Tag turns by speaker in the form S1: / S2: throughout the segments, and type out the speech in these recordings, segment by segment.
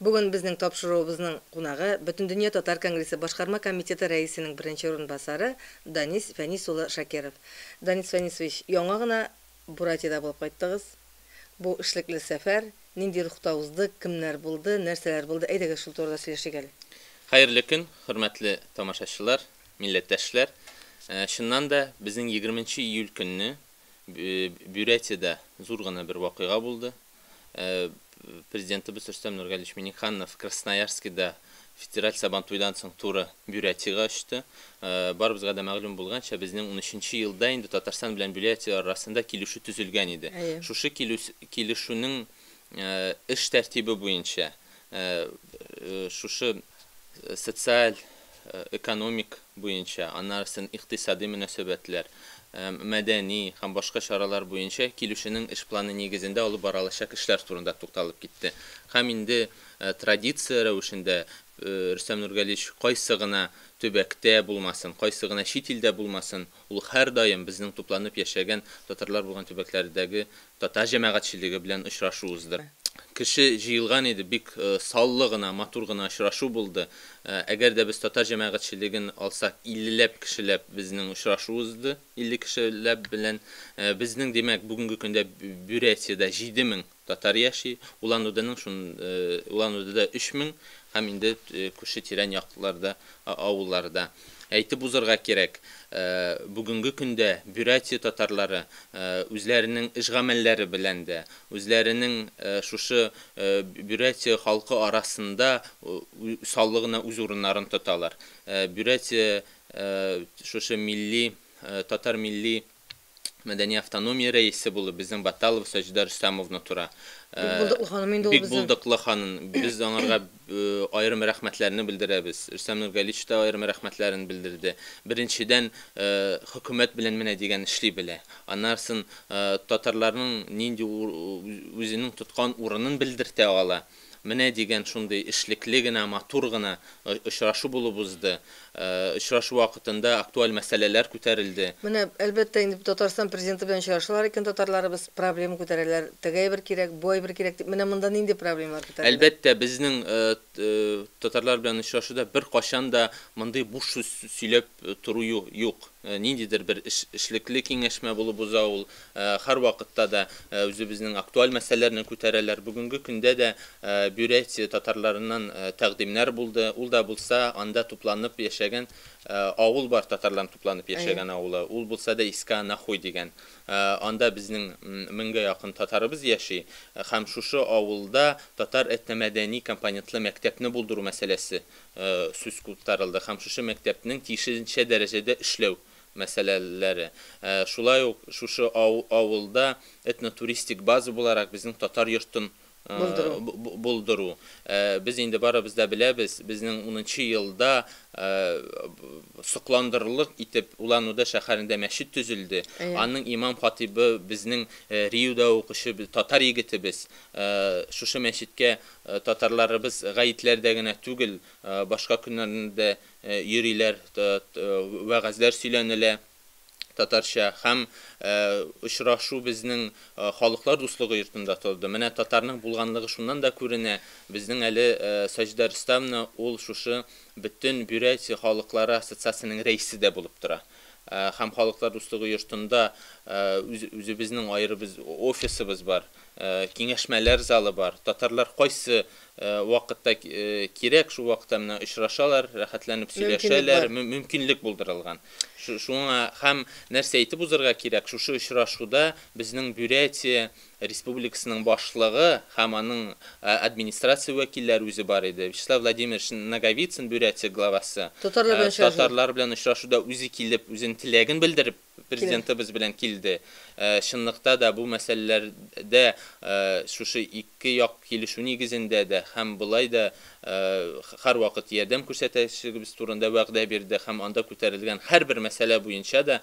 S1: Бүген безнең тапшыруыбызның кунагы, Бөтендөнья татар конгрессы башкарма комитеты рәисенең беренче урынбасары Данис Фәнис улы Шакиров. Данис Фәнисович, яңа гына Буратиядә булып кайттыгыз. Бу эшлекле сәфәр нинди рухта узды, кемнәр булды, нәрсәләр булды, әйдәгез шул турыда сөйләшик әле. Хәерле көн,
S2: хөрмәтле тамашачылар, милләттәшләр. Чыннан да, безнең егерменче июль көнне Бюрәтиядә зур гына бер вакыйга булды. Президентыбыз Рөстәм Нургалиевич Миңнеханов Красноярскида федераль Сабантуйдан соң туры Бюрятиягә очты. Барыбызга да мәгълүм булганча, безнең унөченче елда инде Татарстан белән Бюрятия арасында килешү төзелгән иде. Шушы килешүнең эш тәртибе буенча Шушы социаль, экономик буенча, аннары сон икътисади мөнәсәбәтләр, мәдәни һәм башка чаралар буенча килүшенең эш планы нигезендә алып барылачак эшләр турында тукталып китте һәм инде традиция рәвешендә Рөстәм Нургалиевич кайсы гына төбәктә булмасын, кайсы гына чит илдә булмасын, Ул һәрдаим безнең тупланып яшәгән татарлар булган төбәкләрдәге татар җәмәгатьчелеге белән очрашу уздыра. Кеше җыелган иде, бик саллы гына, матур гына очрашу булды. Әгәр дә без татар җәмәгатьчелеген алсак, иллеләп кешеләп безнең очрашу узды, илле кешеләп белән. Безнең, димәк, бүгенге көндә Бюрәтиядә җиде мең Татар яши, Улан-Удэның шун, Улан-Удэда 3000 һәм инде күрше тирән якларда, авылларда. Әйтеп узырга кирәк, бүгенге көндә Бюрятия татарлары үзләренең эш гамәлләре белән дә, үзләренең шушы Бюрятия халкы арасында усаллы гына үз урыннарын тоталар. Бюрятия шушы милли, татар милли. Мәдәни автономия рәисе булып, безнең Баталова Саҗидә Рөстәмовна тора. Бик булдыклы ханым инде ул безнең. Бик булдыклы ханым. Без аңарга аерым рәхмәтләрне белдерәбез. Рөстәм Нургалич та аерым рәхмәтләрен белдерде. Беренчедән, хөкүмәт белән менә дигән эшли белә. Аннарсын татарларның нинди үзенең тоткан урынын белдертә ала. Менә дигән шундый эшлекле генә, матур гына очрашу булып узды. Очрашу вакытында актуаль мәсьәләләр күтәрелде. Менә, әлбәттә,
S1: инде бу Татарстан Президенты белән очрашалар икән татарларыбыз, проблема күтәрәләр, теге әйбер кирәк, бу әйбер кирәк дип, менә монда нинди проблемалар күтәрелә? Әлбәттә, безнең
S2: татарлар белән очрашуда беркайчан да мондый буш сүз сөйләп тору юк. Ниндидер бер эшлекле киңәшмә булып уза ул. Һәрвакытта да үзебезнең актуаль мәсьәләләрне күтәрәләр. Бүгенге көндә дә Бюрятия татарларыннан тәкъдимнәр булды. Ул да булса анда тупланып яшәгән авыл бар, татарларның тупланып яшәгән авылы. Ул булса да Иска Нахуй дигән. Анда безнең меңгә якын татарыбыз яши. Һәм шушы авылда татар этномәдәни компонентлы мәктәпне булдыру мәсьәләсе сүз куптарылды һәм шушы мәктәпнең тиешенчә дәрәҗәдә эшләү мәсьәләләре. Шулай ук шушы авылда этно-туристик база буларак безнең татар йортын булдыру. Без инде барыбыз да беләбез, безнең унынчы елда сокландырырлык итеп Улан-Удэ шәһәрендә мәчет төзелде. Аның имам-хатыйбы безнең РИУда укучы татар егетебез. Шушы мәчеткә татарларыбыз гаетләрдә генә түгел, башка көннәрдә дә йөриләр, вәгазьләр сөйләнелә татарча һәм очрашу безнең Халыклар дуслыгы йортында торды. Менә татарның булганлыгы шуннан да күренә, безнең әле Саҗидә Рөстәмовна ул шушы Бөтен Бюрятия халыклары ассоциациясенең рәисе дә булып тора. Һәм Халыклар дуслыгы йортында үзебезнең аеры без офисыбыз бар. киңәшмәләр залы бар. Татарлар кайсы вакытта кирәк, шул вакытта менә очрашалар, рәхәтләнеп сөйләшәләр, мөмкинлек булдырылган. Шуңа һәм нәрсә әйтеп узырга кирәк, шушы очрашуда безнең Бурятия Республикасының башлыгы һәм аның администрация вәкилләре үзе бар иде. Вячеслав Владимирович Ноговицын, Бурятия главасы, татарлар белән очрашуда үзе килеп, үзенең теләген белдереп, Президентыбыз белән килде. Чынлыкта да бу мәсьәләләрдә шушы ике як килешү нигезендә дә һәм болай да һәрвакыт ярдәм күрсәтәчәгебез турында вәгъдә бирде һәм анда күтәрелгән һәрбер мәсьәлә буенча да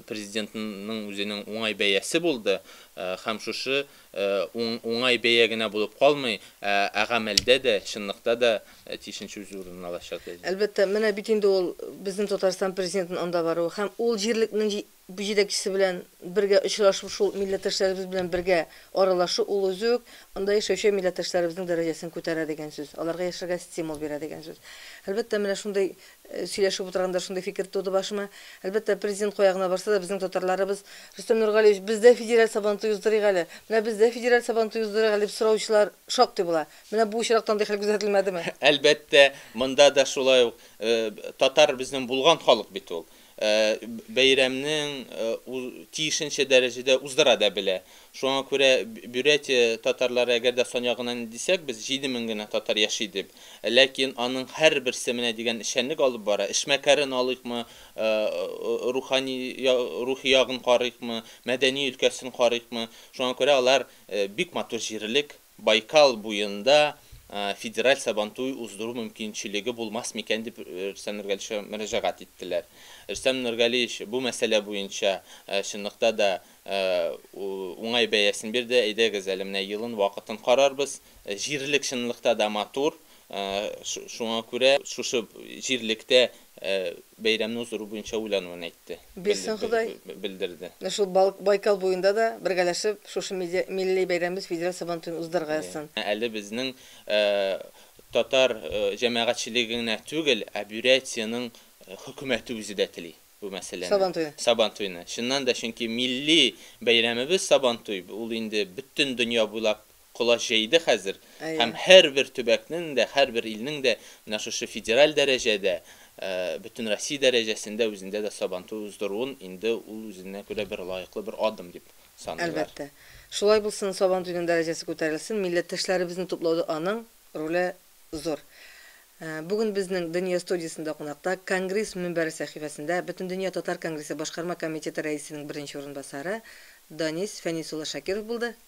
S2: Президентның үзенең уңай бәясе булды һәм шушы уңай бәя генә булып калмый, ә гамәлдә дә, чынлыкта да тиешенчә үз урынын алачак, ди. Әлбәттә, менә бит
S1: инде ул безнең Татарстан Президентының анда баруы һәм ул җирлекнең җитәкчесе белән бергә очрашып, шул милләттәшләребез белән бергә аралашу, ул үзе үк анда яшәүче милләттәшләребезнең дәрәҗәсен күтәрә дигән сүз, аларга яшәргә стимул бирә дигән сүз. Әлбәттә, менә шундый Сөйләшеп утырганда шундый фикер туды башыма, әлбәттә, президент кая гына барса да, безнең татарларыбыз, Рөстәм Нургалиевич, без дә федераль Сабантуй уздырыйк әле, менә без дә федераль Сабантуй уздырыйк әле, дип сораучылар шактый була. Менә бу очракта андый хәл күзәтелмәдеме? Әлбәттә,
S2: монда да шулай ук. Татар безнең булган халык бит ул. бәйрәмнең тиешенчә дәрәҗәдә уздыра да белә. Шуңа күрә Бюрятия татарлары, әгәр дә сан ягыннан ни дисәк, без 7 мең генә татар яши дип, ләкин аның һәрберсе менә дигән эшчәнлек алып бара. Эшмәкәрен алыйкмы, рухани, рухи ягын карыйкмы, мәдәни өлкәсен карыйкмы, шуңа күрә алар бик матур җирлек. Байкал буенда федераль Сабантуй уздыру мөмкинчелеге булмас микән дип Рөстәм Нургалиевичка мөрәҗәгать иттеләр. Рөстәм Нургалиевич бу мәсьәлә буенча чынлыкта да уңай бәясен бирде, әйдәгез әле менә елын, вакытын карарбыз. Җирлек чынлыкта да матур, шуңа күрә шушы җирлектә бәйрәмне уздыру буенча уйлануын әйтте, Бирсен Ходай,
S1: белдерде. менә шул
S2: Байкал
S1: буенда да бергәләшеп шушы милли бәйрәмебез федераль Сабантуен уздырырга язсын. Әле безнең
S2: татар җәмәгатьчелеге генә түгел, ә Бюрятиянең хөкүмәте үзе дә тели бу мәсьәләне. Сабантуйны. Сабантуйны. Чыннан да, чөнки милли бәйрәмебез Сабантуй, ул инде бөтен дөнья буйлап колач җәйде хәзер һәм һәрбер төбәкнең дә, һәрбер илнең дә менә шушы федераль дәрәҗәдә, Бөтенроссия дәрәҗәсендә үзендә дә Сабантуй уздыруын инде ул үзенә күрә бер лаеклы бер адым дип саныйлар. Әлбәттә. Шулай
S1: булсын, Сабантуйның дәрәҗәсе күтәрелсен, милләттәшләребезне туплауда аның роле зур. Бүген безнең Дөнья студиясендә кунакта, Конгресс мөнбәре сәхифәсендә, Бөтендөнья татар конгрессы башкарма комитеты рәисенең беренче урынбасары Данис
S2: Фәнис
S1: улы Шакиров булды.